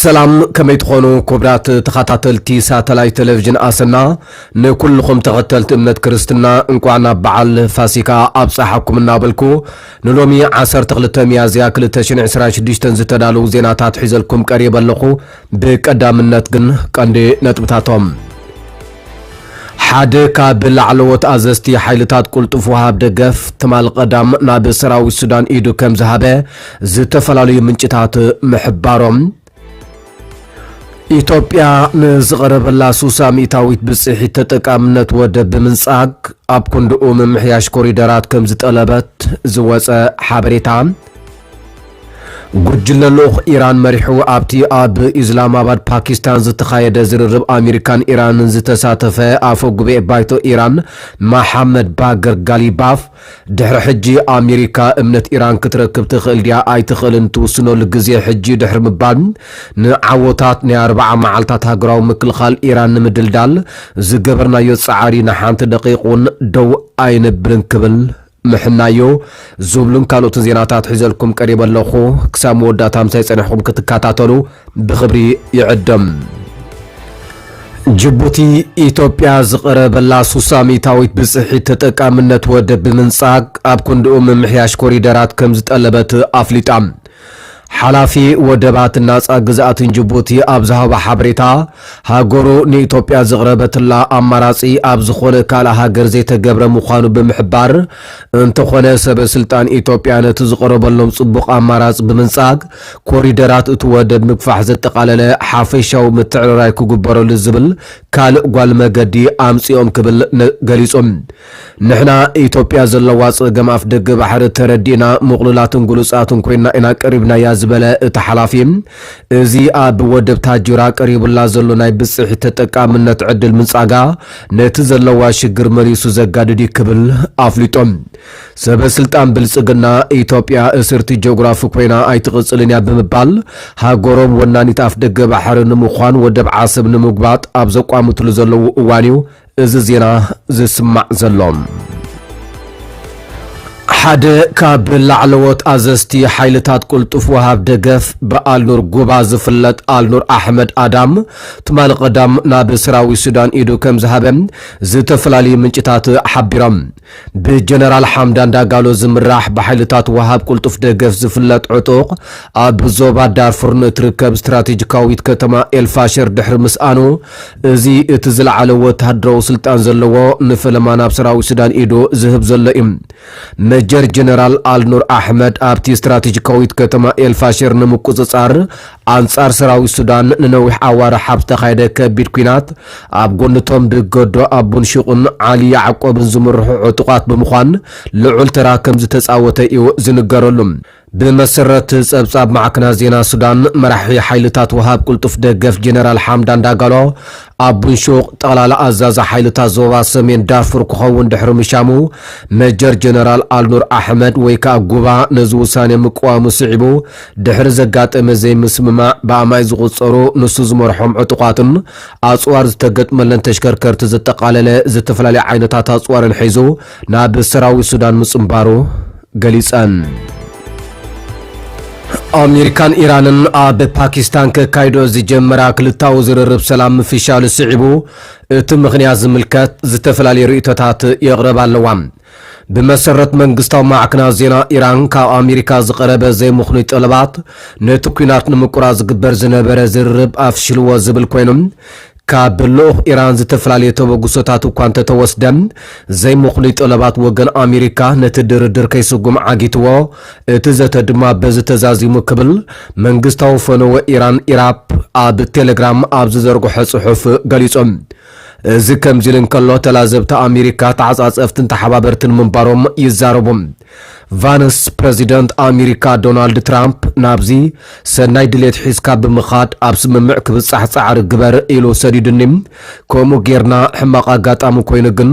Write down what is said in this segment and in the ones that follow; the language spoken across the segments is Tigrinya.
ሰላም ከመይ ትኾኑ ክቡራት ተኸታተልቲ ሳተላይት ቴሌቭዥን ኣሰና ንኩልኹም ተኸተልቲ እምነት ክርስትና እንቋዕ ናብ በዓል ፋሲካ ኣብፀሓኩም እናበልኩ ንሎሚ 12 ሚያዝያ 2026 ዝተዳለዉ ዜናታት ሒዘልኩም ቀሪበ ኣለኹ ብቀዳምነት ግን ቀንዲ ነጥብታቶም ሓደ ካብ ላዕለዎት ኣዘዝቲ ሓይልታት ቁልጡፍ ወሃብ ደገፍ ትማል ቀዳም ናብ ሰራዊት ሱዳን ኢዱ ከም ዝሃበ ዝተፈላለዩ ምንጭታት ምሕባሮም ኢትዮጵያ ንዝቐረበላ ሱሳ ሚእታዊት ብፅሒት ተጠቃምነት ወደብ ብምንጻግ ኣብ ክንድኡ ምምሕያሽ ኮሪደራት ከም ዝጠለበት ዝወፀ ሓበሬታ ጉጅለ ልኡኽ ኢራን መሪሑ ኣብቲ ኣብ ኢዝላማባድ ፓኪስታን ዝተኻየደ ዝርርብ ኣሚሪካን ኢራንን ዝተሳተፈ ኣፈ ጉባኤ ባይቶ ኢራን ማሓመድ ባገር ጋሊባፍ ድሕሪ ሕጂ ኣሚሪካ እምነት ኢራን ክትረክብ ትኽእል ድያ ኣይትኽእልን ትውስነሉ ግዜ ሕጂ'ዩ ድሕሪ ምባል ንዓወታት ናይ ኣርብዓ መዓልታት ሃገራዊ ምክልኻል ኢራን ንምድልዳል ዝገበርናዮ ጻዕሪ ንሓንቲ ደቒቕ'ውን ደው ኣይነብልን ክብል ምሕናዮ ዝብሉን ካልኦትን ዜናታት ሒዘልኩም ቀሪበ ኣለኹ። ክሳብ መወዳእታ ምሳይ ጸኒሕኹም ክትከታተሉ ብኽብሪ ይዕድም። ጅቡቲ፣ ኢትዮጵያ ዝቐረበላ ስሳ ሚእታዊት ብጽሒት ተጠቃምነት ወደብ ብምንጻግ፣ ኣብ ክንድኡ ምምሕያሽ ኮሪደራት ከምዝጠለበት ኣፍሊጣ። ሓላፊ ወደባትን ናጻ ግዝኣትን ጅቡቲ ኣብ ዝሃቦ ሓበሬታ፣ ሃገሩ ንኢትዮጵያ ዘቕረበትላ ኣማራጺ ኣብ ዝኾነ ካልእ ሃገር ዘይተገብረ ምዃኑ ብምሕባር፣ እንተኾነ ሰበ ስልጣን ኢትዮጵያ ነቲ ዝቐረበሎም ጽቡቕ ኣማራጺ ብምንጻግ ኮሪደራት እቲ ወደብ ምግፋሕ ዘጠቓለለ ሓፈሻዊ ምትዕርራይ ክግበረሉ ዝብል ካልእ ጓል መገዲ ኣምጺኦም ክብል ገሊጹ። ንሕና ኢትዮጵያ ዘለዋ ፀገም ኣፍደገ ባሕሪ ተረዲእና ምቕሉላትን ግሉፃትን ኮይንና ኢና ቀሪብናያ ዝበለ እቲ ሓላፊ፣ እዚ ኣብ ወደብ ታጁራ ቀሪቡላ ዘሎ ናይ ብፅሒት ተጠቃምነት ዕድል ምንፃጋ ነቲ ዘለዋ ሽግር መሊሱ ዘጋድድ እዩ ክብል ኣፍሊጦም። ሰበ ስልጣን ብልፅግና ኢትዮጵያ እስርቲ ጂኦግራፊ ኮይና ኣይትቕፅልን እያ ብምባል ሃገሮም ወናኒት ኣፍደገ ባሕሪ ንምዃን ወደብ ዓሰብ ንምጉባጥ ኣብ ዘቋምትሉ ዘለዉ እዋን እዩ እዚ ዜና ዝስማዕ ዘሎ ሓደ ካብ ላዕለዎት ኣዘዝቲ ሓይልታት ቁልጡፍ ወሃብ ደገፍ ብኣልኑር ጉባ ዝፍለጥ ኣልኑር ኣሕመድ ኣዳም ትማሊ ቀዳም ናብ ሰራዊት ሱዳን ኢዱ ከም ዝሃበ ዝተፈላለዩ ምንጭታት ሓቢሮም። ብጀነራል ሓምዳን ዳጋሎ ዝምራሕ ብሓይልታት ወሃብ ቅልጡፍ ደገፍ ዝፍለጥ ዕጡቕ፣ ኣብ ዞባ ዳርፉር ንእትርከብ ስትራቴጂካዊት ከተማ ኤልፋሸር ድሕሪ ምስኣኑ፣ እዚ እቲ ዝለዓለ ወተሃደራዊ ስልጣን ዘለዎ ንፈለማ ናብ ሰራዊት ሱዳን ኢዱ ዝህብ ዘሎ እዩ። መጀር ጀነራል ኣልኑር ኣሕመድ ኣብቲ ስትራቴጂካዊት ከተማ ኤልፋሸር ንምቁጽጻር ኣንጻር ሰራዊት ሱዳን ንነዊሕ ኣዋርሕ ኣብ ዝተኻየደ ከቢድ ኲናት፣ ኣብ ጎኒ'ቶም ብገዶ ኣቡን ሹቕን ዓሊ ያዕቆብን ዝምርሑ ዕጡቓት ብምዃን ልዑል ተራ ከምዝተጻወተ እዩ ዝንገረሉ። ብመሰረት ጸብጻብ ማዕከናት ዜና ሱዳን፣ መራሒ ሓይልታት ወሃብ ቅልጡፍ ደገፍ ጀነራል ሓምዳን ዳጋሎ፣ ኣቡን ሹቕ ጠቕላላ ኣዛዚ ሓይልታት ዞባ ሰሜን ዳርፉር ክኸውን ድሕሪ ምሻሙ፣ መጀር ጀነራል ኣልኑር ኣሕመድ ወይ ከኣ ጉባ ነዚ ውሳኔ ምቅዋሙ ስዒቡ፣ ድሕሪ ዘጋጠመ ዘይምስምማዕ ብኣማኢት ዝቑጸሩ ንሱ ዝመርሖም ዕጡቓትን ኣጽዋር ዝተገጥመለን ተሽከርከርቲ ዘጠቓለለ ዝተፈላለየ ዓይነታት ኣጽዋርን ሒዙ ናብ ሰራዊት ሱዳን ምጽንባሩ ገሊጸን። ኣሜሪካን ኢራንን ኣብ ፓኪስታን ከካይዶ ዝጀመራ ክልታዊ ዝርርብ ሰላም ምፍሻሉ ስዒቡ እቲ ምኽንያት ዝምልከት ዝተፈላለዩ ርእይቶታት የቕረባ ኣለዋ። ብመሰረት መንግስታዊ ማዕክናት ዜና ኢራን ካብ ኣሜሪካ ዝቐረበ ዘይምኽኑይ ጠለባት ነቲ ኲናት ንምቁራጽ ዝግበር ዝነበረ ዝርርብ ኣፍሺልዎ ዝብል ኮይኑ፣ ካብ ልኡኽ ኢራን ዝተፈላለየ ተበግሶታት እኳ እንተተወስደ፣ ዘይምኽኑይ ጠለባት ወገን ኣሜሪካ ነቲ ድርድር ከይስጉም ዓጊትዎ፣ እቲ ዘተ ድማ በዚ ተዛዚሙ ክብል መንግስታዊ ፈነወ ኢራን ኢራፕ ኣብ ቴለግራም ኣብ ዝዘርግሖ ጽሑፍ ገሊጹ። እዚ ከምዚ'ሉ እንከሎ፣ ተላዘብቲ ኣሚሪካ ተዓጻጸፍትን ተሓባበርትን ምንባሮም ይዛረቡ። ቫንስ፣ ፕረዚደንት ኣሚሪካ ዶናልድ ትራምፕ ናብዚ ሰናይ ድሌት ሒዝካ ብምኻድ ኣብ ስምምዕ ክብጻሕ ጻዕሪ ግበር ኢሉ ሰዲዱኒ። ከምኡ ጌርና ሕማቕ ኣጋጣሚ ኮይኑ ግን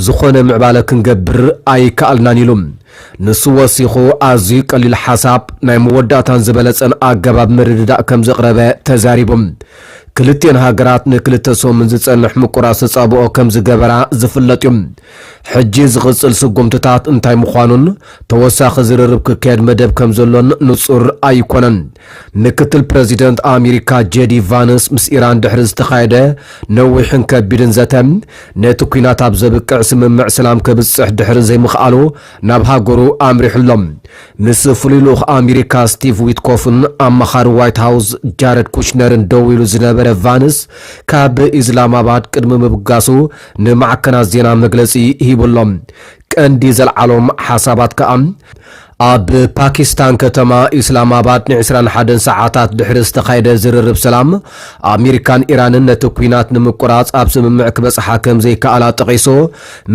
ዝኾነ ምዕባለ ክንገብር ኣይከኣልናን ኢሉ። ንሱ ወሲኹ ኣዝዩ ቀሊል ሓሳብ፣ ናይ መወዳእታን ዝበለጸን ኣገባብ ምርድዳእ ከምዘቕረበ ተዛሪቡ። ክልቲኤን ሃገራት ንክልተ ሰሙን ዝጸንሕ ምቁራጽ ተጻብኦ ከም ዝገበራ ዝፍለጥ እዩ። ሕጂ ዝቕጽል ስጉምትታት እንታይ ምዃኑን ተወሳኺ ዝርርብ ክካየድ መደብ ከም ዘሎን ንጹር ኣይኰነን። ምክትል ፕረዚደንት ኣሜሪካ ጄዲ ቫንስ ምስ ኢራን ድሕሪ ዝተኻየደ ነዊሕን ከቢድን ዘተ፣ ነቲ ኲናት ኣብ ዘብቅዕ ስምምዕ ሰላም ከብጽሕ ድሕሪ ዘይምኽኣሉ ናብ ሃገሩ ኣምሪሑ ኣሎ። ምስ ፍሉይ ልኡኽ ኣሜሪካ ስቲቭ ዊትኮፍን ኣማኻሪ ዋይት ሃውስ ጃረድ ኩሽነርን ደው ኢሉ ዝነበረ ቫንስ፣ ካብ ኢስላማባድ ቅድሚ ምብጋሱ ንማዕከናት ዜና መግለጺ ሂቡ ኣሎ። ቀንዲ ዘልዓሎም ሓሳባት ከኣ፣ ኣብ ፓኪስታን ከተማ ኢስላማባድ ን ዕስራን ሓደን ሰዓታት ድሕሪ ዝተኻየደ ዝርርብ ሰላም፣ ኣሜሪካን ኢራንን ነቲ ኲናት ንምቁራጽ ኣብ ስምምዕ ክበጽሓ ከምዘይከኣላ ጠቒሱ፣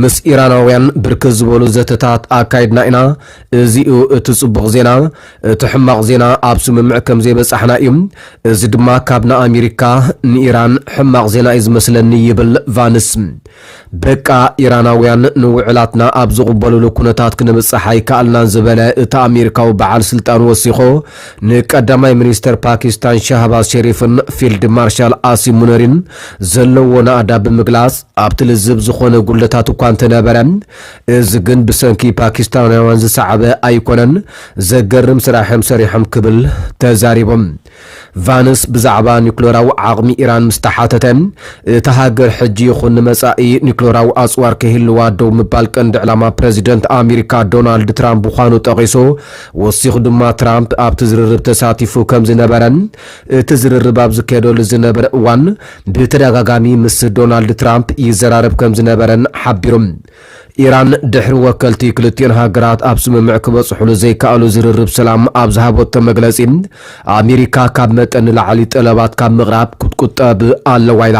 ምስ ኢራናውያን ብርክት ዝበሉ ዘተታት ኣካይድና ኢና። እዚ'ዩ እቲ ጽቡቕ ዜና። እቲ ሕማቕ ዜና ኣብ ስምምዕ ከም ዘይበጻሕና እዩ። እዚ ድማ ካብ ንኣሚሪካ ንኢራን ሕማቕ ዜና እዩ ዝመስለኒ ይብል ቫንስ። በቃ ኢራናውያን ንውዕላትና ኣብ ዝቕበሉሉ ኩነታት ክንብጻሕ ኣይከኣልናን ዝበለ እቲ ኣሚሪካዊ በዓል ስልጣን ወሲኾ፣ ንቀዳማይ ሚኒስተር ፓኪስታን ሻህባዝ ሸሪፍን ፊልድ ማርሻል ኣሲም ሙነሪን ዘለዎ ናእዳ ብምግላጽ ኣብቲ ልዝብ ዝኾነ ጉድለታት እኳ እንተነበረ፣ እዚ ግን ብሰንኪ ፓኪስታናውያን ዝሰዓበ ኣይኮነን፣ ዘገርም ስራሕ'ዮም ሰሪሖም ክብል ተዛሪቡ። ቫንስ ብዛዕባ ኒዩክለራዊ ዓቕሚ ኢራን ምስ ተሓተተ፣ እታ ሃገር ሕጂ ይኹን ንመጻኢ ኒዩክለራዊ ኣጽዋር ከይህልዋ ደው ምባል ቀንዲ ዕላማ ፕረዚደንት ኣሚሪካ ዶናልድ ትራምፕ ምዃኑ ጠቒሱ፣ ወሲኹ ድማ ትራምፕ ኣብቲ ዝርርብ ተሳቲፉ ከም ዝነበረን እቲ ዝርርብ ኣብ ዝካየደሉ ዝነበረ እዋን ብተደጋጋሚ ምስ ዶናልድ ትራምፕ ይዘራረብ ከም ዝነበረን ሓቢሩ። ኢራን ድሕሪ ወከልቲ ክልቲኦን ሃገራት ኣብ ስምምዕ ክበጽሑሉ ዘይከኣሉ ዝርርብ ሰላም ኣብ ዝሃበቶ መግለጺ ኣሜሪካ ካብ መጠን ንላዕሊ ጠለባት ካብ ምቕራብ ክትቁጠብ ኣለዋ ኢላ።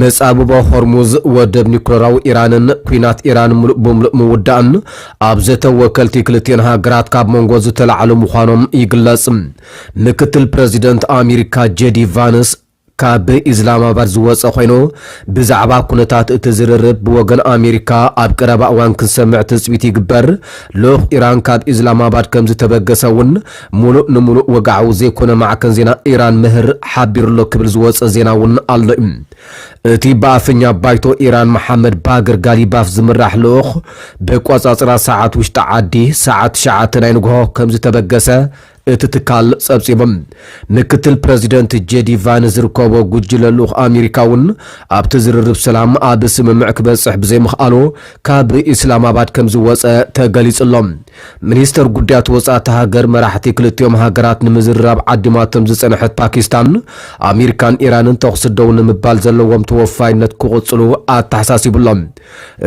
መጻብቦ ሆርሙዝ፣ ወደብ ኒኩለራዊ ኢራንን ኲናት ኢራን ምሉእ ብምሉእ ምውዳእን ኣብ ዘተ ወከልቲ ክልቲኤን ሃገራት ካብ መንጎ ዝተላዕሉ ምዃኖም ይግለጽ። ምክትል ፕረዚደንት ኣሚሪካ ጀዲ ቫንስ ካብ ኢዝላማባድ ዝወጸ ኮይኑ፣ ብዛዕባ ኩነታት እቲ ዝርርብ ብወገን ኣሚሪካ ኣብ ቀረባ እዋን ክንሰምዕ ትጽቢት ይግበር፣ ልኡኽ ኢራን ካብ ኢዝላማባድ ከምዝተበገሰ'ውን ሙሉእ ንሙሉእ ወግዓዊ ዘይኮነ ማዕከን ዜና ኢራን ምህር ሓቢሩ'ሎ ክብል ዝወጸ ዜና'ውን ኣሎ'ዩ። እቲ ብኣፈኛ ባይቶ ኢራን መሓመድ ባግር ጋሊባፍ ዝምራሕ ልኡኽ በቋጻጽራ ሰዓት ውሽጢ ዓዲ ሰዓት ትሽዓተ ናይ ንግሆ ከምዝተበገሰ እቲ ትካል ጸብጺቡ። ምክትል ፕረዚደንት ጄዲ ቫን ዝርከቦ ጉጅለ ልኡኽ ኣሚሪካ'ውን ኣብቲ ዝርርብ ሰላም ኣብ ስምምዕ ክበጽሕ ብዘይምኽኣሉ ካብ ኢስላማባድ ከምዝወጸ ተገሊጹ'ሎ። ሚኒስተር ጉዳያት ወጻእ'ታ ሃገር፣ መራሕቲ ክልቲኦም ሃገራት ንምዝርራብ ዓዲማቶም ዝጸንሐት ፓኪስታን፣ ኣሚሪካን ኢራንን ተኹሲ ደው ንምባል ዘለዎም ተወፋይነት ክቕጽሉ ኣተሓሳሲቡ'ሎ።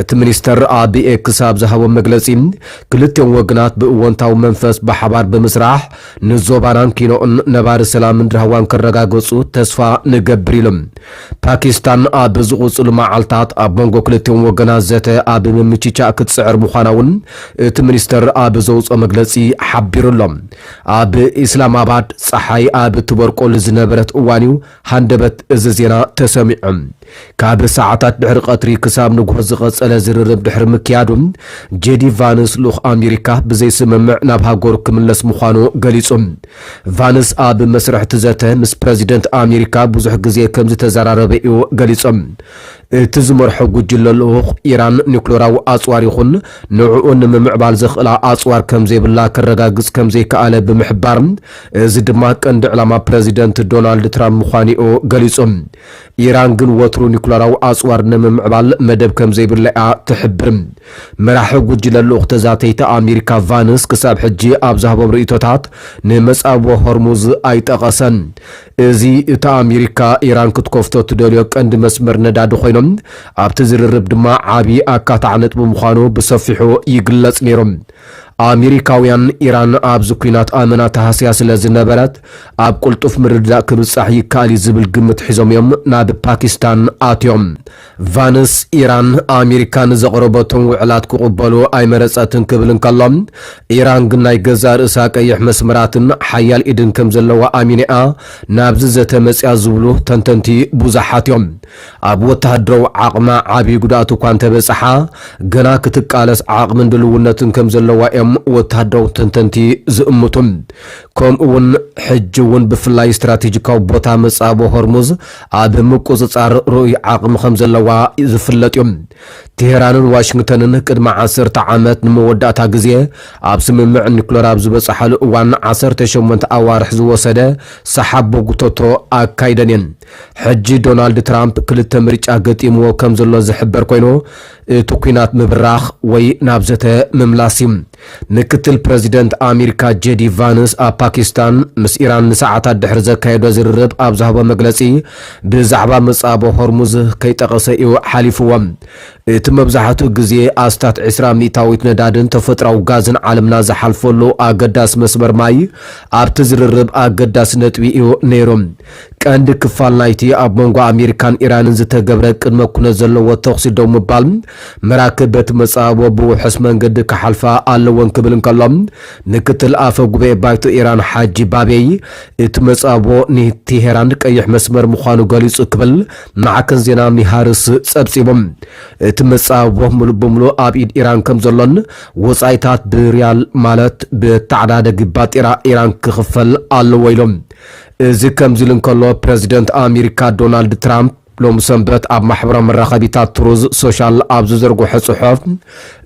እቲ ሚኒስተር ኣብ ኤክስ ኣብ ዝሃቦ መግለጺ፣ ክልቲኦም ወገናት ብእወንታዊ መንፈስ ብሓባር ብምስራሕ፣ ንዞባናን ኪኖኡን ነባሪ ሰላምን ራህዋን ከረጋግጹ ተስፋ ንገብር ኢሉ። ፓኪስታን ኣብ ዝቕጽሉ መዓልታት ኣብ መንጎ ክልቲኦም ወገናት ዘተ ኣብ ምምችቻእ ክትጽዕር ምዃና'ውን እቲ ሚኒስተር ኣብ ዘውጽኦ መግለጺ ሓቢሩ'ሎ። ኣብ ኢስላማባድ ጸሓይ ኣብ እትበርቆሉ ዝነበረት እዋን'ዩ ሃንደበት እዚ ዜና ተሰሚዑ። ካብ ሰዓታት ድሕሪ ቀትሪ ክሳብ ንግሆ ዝቐጸለ ዝርርብ ድሕሪ ምክያዱ፣ ጄዲ ቫንስ ልኡኽ ኣሜሪካ ብዘይስምምዕ ናብ ሃገሩ ክምለስ ምዃኑ ገሊጹ። ቫንስ ኣብ መስርሕ'ቲ ዘተ ምስ ፕረዚደንት ኣሜሪካ ብዙሕ ግዜ ከምዝተዘራረበ'ዩ ገሊጹ። እቲ ዝመርሖ ጉጅለ ልኡኽ፣ ኢራን ኒዩክለራዊ ኣጽዋር ይኹን ንዕኡ ንምምዕባል ዘኽእላ ኣጽዋር ከም ዘይብላ ከረጋግጽ ከም ዘይከኣለ ብምሕባር፣ እዚ ድማ ቀንዲ ዕላማ ፕረዚደንት ዶናልድ ትራምፕ ምዃኑ'ዩ ገሊጹ። ኢራን ግን ወትሩ ኒዩክለራዊ ኣጽዋር ንምምዕባል መደብ ከም ዘይብላ'ያ ትሕብር። መራሒ ጉጅለ ልኡኽ ተዛተይቲ ኣሜሪካ ቫንስ ክሳብ ሕጂ ኣብ ዝሃቦም ርእይቶታት ንመጻብቦ ሆርሙዝ ኣይጠቐሰን። እዚ እታ ኣሜሪካ ኢራን ክትከፍቶ እትደልዮ ቀንዲ መስመር ነዳዲ ኾይኑ፣ ኣብቲ ዝርርብ ድማ ዓቢ ኣካታዒ ነጥቢ ምዃኑ ብሰፊሑ ይግለጽ ነይሩ። ኣሜሪካውያን፣ ኢራን ኣብዚ ኲናት ኣመና ተሃስያ ስለ ዝነበረት፣ ኣብ ቅልጡፍ ምርድዳእ ክብጻሕ ይከኣል እዩ ዝብል ግምት ሒዞም እዮም ናብ ፓኪስታን ኣትዮም። ቫንስ፣ ኢራን ኣሜሪካ ንዘቕረበቶም ውዕላት ክቕበሎ ኣይመረጸትን ክብል እንከሎ፣ ኢራን ግን ናይ ገዛእ ርእሳ ቀይሕ መስመራትን ሓያል ኢድን ከም ዘለዋ ኣሚና'ያ ናብዚ ዘተ መጺኣ ዝብሉ ተንተንቲ ብዙሓት'ዮም። ኣብ ወተሃደራዊ ዓቕማ ዓቢ ጉድኣት'ኳ እንተበጸሓ፣ ገና ክትቃለስ ዓቕምን ድልውነትን ከም ዘለዋ'ዮም ወተሃደራዊ ተንተንቲ ዝእምቱ። ከምኡ'ውን ሕጂ'ውን ብፍላይ ስትራቴጂካዊ ቦታ መጻብቦ ሆርሙዝ ኣብ ምቁጽጻር ርኡይ ዓቕሚ ከም ዘለዋ ዝፍለጥ'ዩ። ቴህራንን ዋሽንግተንን ቅድሚ ዓሰርተ ዓመት ንመወዳእታ ግዜ ኣብ ስምምዕ ኒኩለር ኣብ ዝበጽሓሉ እዋን ዓሰርተ ሸሞንተ ኣዋርሕ ዝወሰደ ሰሓብ ቦጉቶቶ ኣካይደን እየን። ሕጂ ዶናልድ ትራምፕ ክልተ ምርጫ ገጢምዎ ከም ዘሎ ዝሕበር ኮይኑ፣ እቲ ኲናት ምብራኽ ወይ ናብ ዘተ ምምላስ እዩ። ምክትል ፕረዚደንት ኣሚሪካ ጀዲ ቫንስ ኣብ ፓኪስታን ምስ ኢራን ንሰዓታት ድሕሪ ዘካየዶ ዝርርብ ኣብ ዝሃቦ መግለጺ ብዛዕባ ምጻቦ ሆርሙዝ ከይጠቐሰ እዩ ሓሊፍዎ። እቲ መብዛሕትኡ ግዜ ኣስታት ዕስራ ሚእታዊት ነዳድን ተፈጥሮኣዊ ጋዝን ዓለምና ዝሓልፈሉ ኣገዳሲ መስመር ማይ ኣብቲ ዝርርብ ኣገዳሲ ነጥቢ እዩ ነይሩ። ቀንዲ ክፋል ናይቲ ኣብ መንጎ ኣሜሪካን ኢራንን ዝተገብረ ቅድመ ኩነት ዘለዎ ተኹሲ ደው ምባል፣ መራክብ በቲ መጻብቦ ብውሑስ መንገዲ ክሓልፋ ኣለወን ክብል እንከሎ፣ ምክትል ኣፈ ጉባኤ ባይቶ ኢራን ሓጂ ባቤይ፣ እቲ መጻብቦ ንቴሄራን ቀይሕ መስመር ምዃኑ ገሊጹ ክብል ማዕከን ዜና ሚሃርስ ጸብጺቡ። እቲ መጻብቦ ምሉእ ብምሉእ ኣብ ኢድ ኢራን ከምዘሎን ወጻኢታት ብሪያል ማለት ብተዓዳደጊ ባጤራ ኢራን ክኽፈል ኣለዎ ኢሉ። እዚ ከምዚሉ እንከሎ፣ ፕረዚደንት ኣሚሪካ ዶናልድ ትራምፕ ሎሚ ሰንበት ኣብ ማሕበራዊ መራኸቢታት ትሩዝ ሶሻል ኣብ ዝዘርግሖ ጽሑፍ፣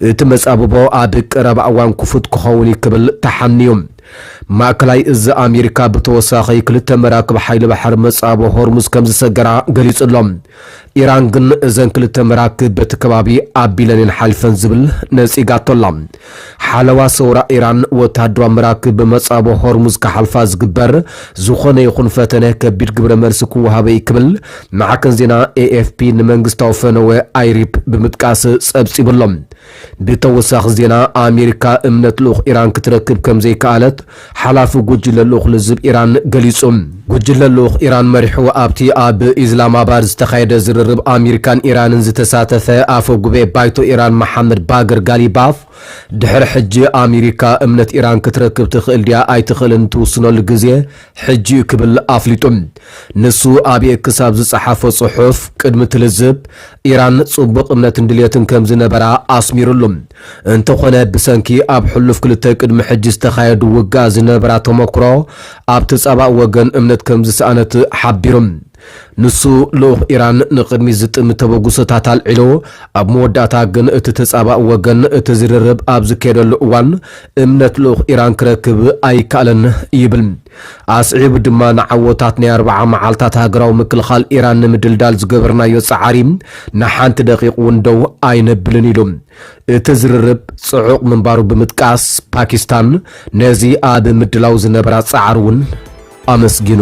እቲ መጻብቦ ኣብ ቀረባ እዋን ክፉት ክኸውን እዩ ክብል ተሓንዩ። ማእከላይ እዚ ኣሚሪካ ብተወሳኺ ክልተ መራክብ ሓይሊ ባሕሪ መጻብቦ ሆርሙዝ ከምዝሰገራ ገሊጹ ኣሎ። ኢራን ግን እዘን ክልተ መራክብ በቲ ከባቢ ኣቢለን እየን ሓሊፈን ዝብል ነጺጋቶ ኣላ። ሓለዋ ሰውራ ኢራን ወተሃደራዊ መራክብ ብመጻብቦ ሆርሙዝ ክሓልፋ ዝግበር ዝኾነ ይኹን ፈተነ ከቢድ ግብረ መልሲ ክወሃቦ እዩ ክብል ማዕከን ዜና ኤኤፍፒ ንመንግስታዊ ፈነወ ኣይሪፕ ብምጥቃስ ጸብጺቡ ኣሎ። ብተወሳኺ ዜና ኣሜሪካ እምነት ልኡኽ ኢራን ክትረክብ ከምዘይከኣለት ሓላፊ ጉጅለ ልኡኽ ልዝብ ኢራን ገሊጹ። ጉጅለ ልኡኽ ኢራን መሪሑ ኣብቲ ኣብ ኢዝላማባድ ዝተኻየደ ዝርርብ ኣሜሪካን ኢራንን ዝተሳተፈ ኣፈ ጉባኤ ባይቶ ኢራን መሓመድ ባገር ጋሊባፍ ድሕሪ ሕጂ ኣሜሪካ እምነት ኢራን ክትረክብ ትኽእል ድያ ኣይትኽእልን ትውስነሉ ግዜ ሕጂ'ዩ ክብል ኣፍሊጡ። ንሱ ኣብ ኤክስ ኣብ ዝጸሓፎ ጽሑፍ፣ ቅድሚ እቲ ልዝብ፣ ኢራን ጽቡቕ እምነትን ድልየትን ከም ዝነበራ ኣስሚሩሉ። እንተኾነ ብሰንኪ ኣብ ሕሉፍ ክልተ ቅድሚ ሕጂ ዝተኻየዱ ውግኣት ዝነበራ ተመኩሮ፣ ኣብቲ ጸባእ ወገን እምነት ከም ዝሰኣነት ሓቢሩ። ንሱ፣ ልኡኽ ኢራን ንቕድሚት ዝጥምት ተበግሶታት ኣልዒሉ፣ ኣብ መወዳእታ ግን እቲ ተጻባኢ ወገን እቲ ዝርርብ ኣብ ዝካየደሉ እዋን እምነት ልኡኽ ኢራን ክረክብ ኣይከኣለን ይብል። ኣስዒቡ ድማ ንዓወታት ናይ ኣርብዓ መዓልታት ሃገራዊ ምክልኻል ኢራን ንምድልዳል ዝገበርናዮ ጻዕሪ ንሓንቲ ደቒቕ እውን ደው ኣይነብልን ኢሉ። እቲ ዝርርብ ጽዑቕ ምንባሩ ብምጥቃስ፣ ፓኪስታን ነዚ ኣብ ምድላው ዝነበራ ጻዕሪ እውን ኣመስጊኑ።